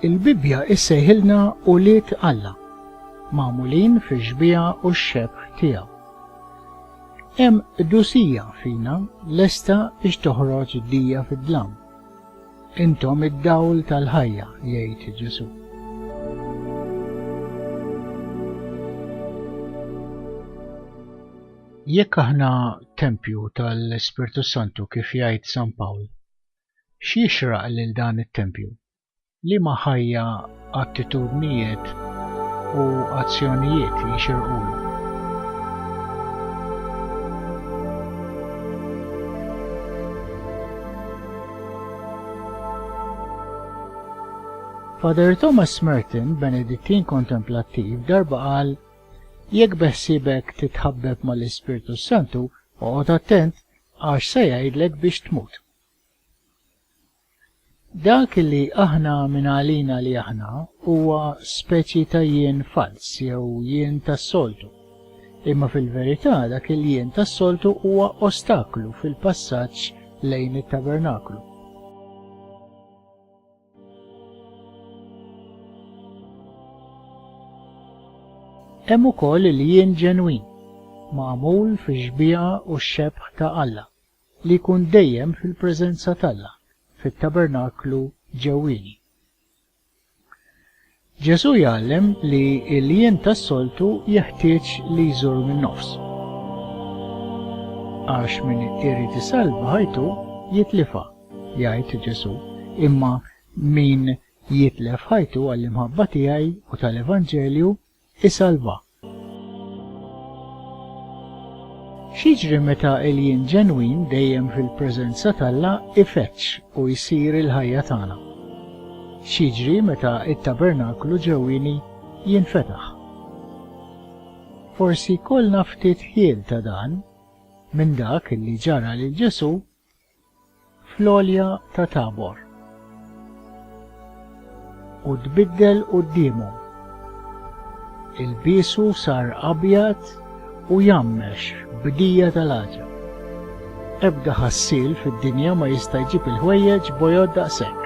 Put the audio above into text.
Il-Bibbja issejħilna ulied Alla, magħmulin fix-xbieha u x-xebh tiegħu. Hemm qdusija fina lesta biex toħroġ dija fid-dlam. Intom id-dawl tal-ħajja, jgħid Ġesù. Jekk aħna tempju tal-Ispirtu s-Santu kif jgħid San Pawl, x'jixraq lil dan it-tempju? Liema ħajja, attitudnijiet u azzjonijiet jixirqulu? Father Thomas Merton, Benedittin kontemplattiv, darba qal Jekk beħsiebek titħabbeb mal-Ispirtu s-Santu, oqgħod attent għax se jgħidlek biex tmut. Dak li aħna minn għalina li aħna huwa speċi ta' jien falz jew jien tas-soltu. Imma fil-verità dak il-jien tas-soltu huwa ostaklu fil-passaġġ lejn it-tabernaklu. Hemm ukoll il-jien ġenwin, magħmul fix-xbieha u x-xebħ ta' Alla, li jkun dejjem fil-preżenza t'Alla, fit-tabernaklu ġewwieni. Ġesù jgħallem li l-jiem tas-soltu jeħtieġ li jżur min-nofs. Għax min irid isalva ħajtu, jitlifha, jgħid Ġesù, imma min jitlef ħajtu għall-imħabba tiegħi u tal-Evanġelju, isalvha. X'jiġri meta l-jien ġenwin dejjem fil-preżenza t'Alla jfeġġ u jsir il-ħajja tagħna? X'jiġri meta t-tabernaklu ġewwieni jinfetaħ? Forsi jkollna ftit ħjiel ta' dan minn dak li ġara lil Ġesù fl-għolja ta' Tabor, u tbiddel quddiemhom. Ilbiesu sar abjad u jammex b'dija tal-għaġeb. Ebda ħassiel fid-dinja ma jista' jġib il-ħwejjeġ bojod daqshekk.